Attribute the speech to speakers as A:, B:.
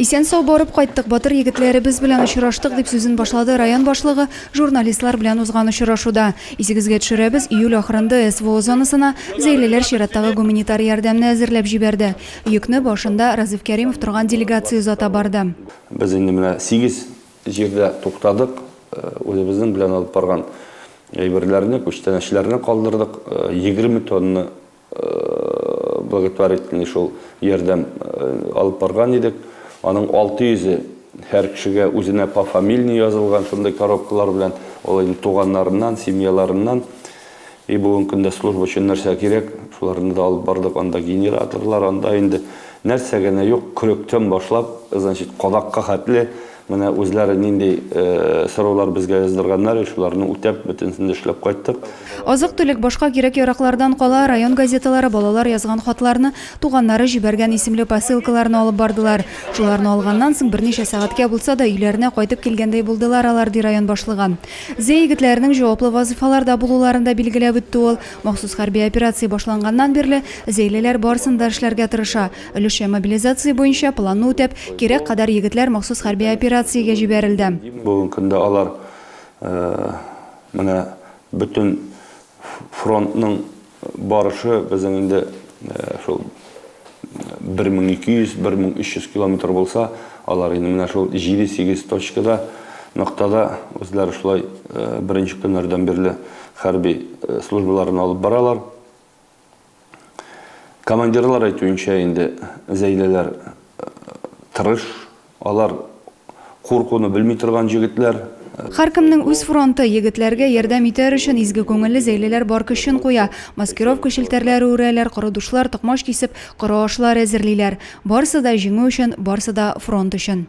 A: Исән-сау барып кайттык, батыр егетләребез белән очраштык, дип сүзен башлады район башлыгы журналистлар белән узган очрашуда. Исегезгә төшерәбез, июль ахырында СВО зонасына зәйлеләр чираттагы гуманитар ярдәмне әзерләп җибәрде. Йөкне башында Разыйф Кәримов торган делегация озата барды. Без инде менә
B: сигез җирдә туктадык, үзебезнең белән алып барган әйберләрне, күчтәнәчләрне калдырдык, егерме тонна благотворительный шул ярдәм алып барган идек. Аның 600-е һәр кешегә үзенә по фамильный язылган шундый коробкалар белән, ул инде туганнарыннан, семьяларыннан. И бүгенге көндә служба өчен нәрсә кирәк, шуларны да алып бардык. Анда генераторлар, анда инде нәрсә генә юк, көрәктән башлап, значит, кадакка хәтле Менә үзләре нинди сораулар безгә яздырганнар, шуларны үтәп, бөтенесен дә эшләп кайттык. Азык-төлек, башка
A: кирәк-яраклардан кала, район газеталары балалар язган хатларны, туганнары җибәргән исемле посылкаларны алып бардылар. Шуларны алганнан соң, берничә сәгатькә булса да, өйләренә кайтып килгәндәй булдылар алар, ди район башлыгы. Зәй егетләренең җаваплы вазыйфаларда булуларын да билгеләп үтте ул. Махсус хәрби операция башланганнан бирле, зәйлеләр барысын да эшләргә тырыша. Өлешчә мобилизация буенча планны үтәп, кирәк кадәр егетләр махсус хәрби операциягә җибәрелде. Бүгенге көндә
B: алар менә бөтен фронтның барышы, безнең инде шул 1200, 1300 километр булса, алар инде менә шул җиде-сигез точкада, ноктада үзләре шулай беренче көннәрдән бирле хәрби службаларын алып баралар. Командирлар әйтүенчә, инде Зәйләләр тырыш, алар куркуны белми торган җегетләр. Һәркемнең үз
A: фронты, егетләргә ярдәм итәр өчен изге күңелле Зәйләләр бар көчен куя. Маскировка челтәрләре үрәләр, коры душлар токмач кисеп, коры ашлар әзерлиләр. Барсы да җиңү өчен, барсы да фронт өчен.